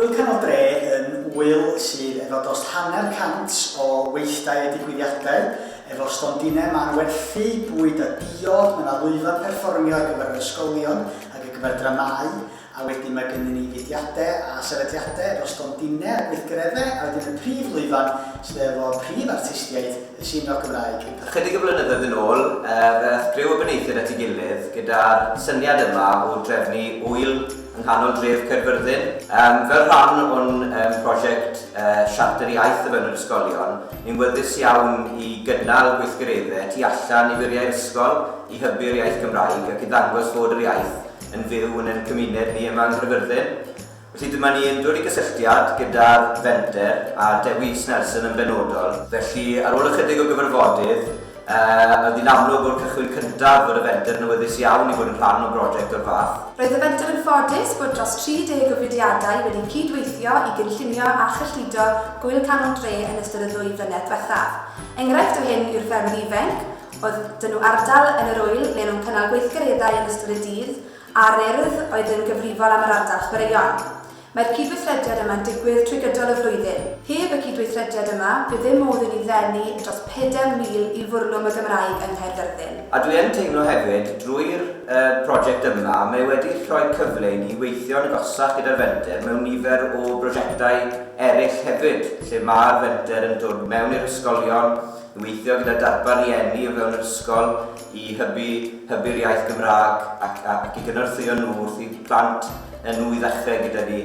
Ŵyl Canol Dre yn ŵyl sydd efo dost hanner cant o weithdai a digwyddiadau, efo stondinau mân werthu bwyd a diod, mae 'na lwyfan perfformio ar gyfer yr ysgolion ac ar gyfer dramâu, A wedyn mae gennyn ni fudiadau a sefydliadau efo stondinau a gweithgareddau, a wedyn y prif lwyfan sydd efo prif artistiaid y sîn roc Gymraeg yn Parc. Chydig o flynyddoedd yn ôl, fe aeth griw o benaethiaid at ei gilydd gyda'r syniad yma o drefnu ŵyl yng nghanol dref Caerfyrddin. Fel rhan o'n prosiect Siarter Iaith Efelyr Ysgolion, ni'n wyddys iawn i gynnal gweithgareddau tu allan i furiau'r ysgol i hybu'r iaith Gymraeg ac i ddangos fod yr iaith yn fyw yn ein cymuned ni yma yng Nghaerfyrddin. Felly dyma ni yn dod i gysylltiad gyda'r fenter a Dewi Snelson yn benodol. Felly ar ôl ychydig o gyfarfodydd, yy, oedd hi'n amlwg o'r cychwyn cyntaf fod y fenter yn awyddus iawn i fod yn rhan o broject o'r fath. Roedd y fenter yn ffodus bod dros 30 o fudiadau wedi cyd-weithio i gynllunio a chyllido Gŵyl Canol Dre yn ystod y ddwy flynedd dwethaf. Enghraifft o hyn yw'r ffermydd ifainc, oedd 'da nhw ardal yn yr ŵyl ble o'n nhw'n cynnal gweithgareddau yn ystod y dydd a'r Urdd oedd yn gyfrifol am yr ardal chwaraeon. Mae'r cydweithrediad yma'n digwydd trwy gydol y flwyddyn. Heb y cydweithrediad yma, bydd ddim modd i ni ddenu dros 4,000 i fwrlwm y Gymraeg yng Nghaerfyrddin. A dwi yn teimlo hefyd, drwy'r prosiect yma, mae e wedi rhoi cyfle i ni weithio'n agosach gyda'r Fenter mewn nifer o brosiectau eraill hefyd, lle mae'r Fenter yn dod mewn i'r ysgolion, I weithio gyda darpar rieni o fewn yr ysgol i hybu, hybu'r iaith Gymraeg ac, ac i gynorthwyo nhw wrth i plant nhw i ddechrau gyda ni.